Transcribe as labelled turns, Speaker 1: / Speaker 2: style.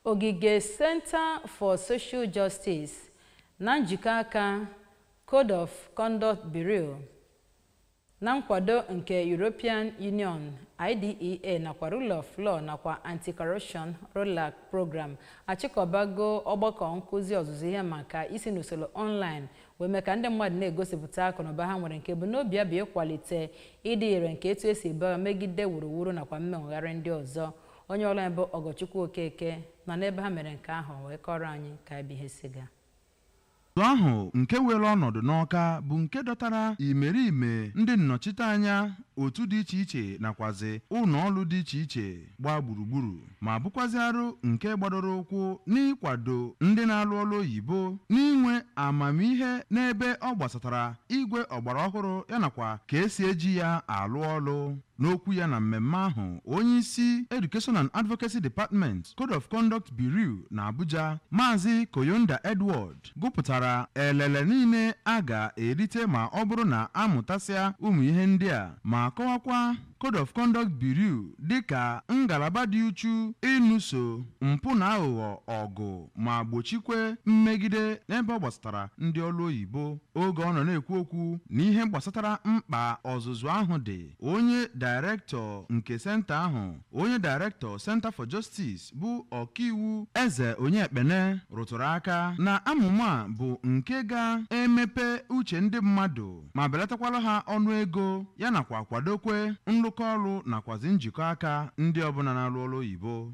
Speaker 1: Ogige Center for Social Justice na njikọ aka Code of Conduct Bureau na nkwado nke European Union, IDEA nakwa Rule of Law nakwa Anti-Corruption ROLAC Program achịkọbago ọgbakọ nkụzi ọzụzụ ihe maka isi n'usoro online wee mee ka ndị mmadụ na-egosipụta akụnụba ha nwere nke ebumnobi ya bụ ịkwalite ịdị ire nke etu esi ebu agha megide wuruwuru nakwa mmenwegharị ndị ọzọ. onye ọrụ anyị bụ Ọgọchukwu Okeke nọ n'ebe ha mere nke ahụ wee kọọrọ anyị ka ebe ihe si gaa Ọzụzụ
Speaker 2: ahụ nke were ọnọdụ n'Ọka bụ nke dọtara imerime ndị nnọchiteanya otu dị iche iche nakwazi ụlọ ọrụ dị iche iche gbaa gburugburu ma bụkwazi arụ nke gbadoro ụkwụ n'ịkwado ndị na-alụ ọrụ oyibo n'inwe amamihe n'ebe ọ gbasatara igwe ọgbara ọhụrụ ya nakwa ka esi eji ya alụ ọrụ N'okwu ya na mmemme ahụ, onyeisi Education and Advocacy Department, Code of Conduct Bureau n'Abuja, Maazị Koyonda Edward, gụpụtara elele niile a ga-erite ma ọ bụrụ na a mụtasịa ụmụ ihe ndị a ma kọwakwa Code of Conduct Bureau dịka ngalaba dị uchu ịnụso mpụ na aghụghọ ọgụ. ma gbochikwe mmegide n'ebe ọ gbasatara ndị ọrụ oyibo oge ọ nọ na-ekwu okwu na ihe gbasatara mkpa ọzụzụ ahụ dị onye dairektọ nke senta ahụ onye dairektọ Center for Justice bụ ọkaiwu Eze Onyekpere rụtụrụ aka na amụma bụ nke ga-emepe uche ndị mmadụ ma belatakwala ha ọnụ ego ya nakwa kwadokwe nrụkọ ọrụ nakwazi njikọ aka ndị ọbụla na-arụ ọrụ oyibo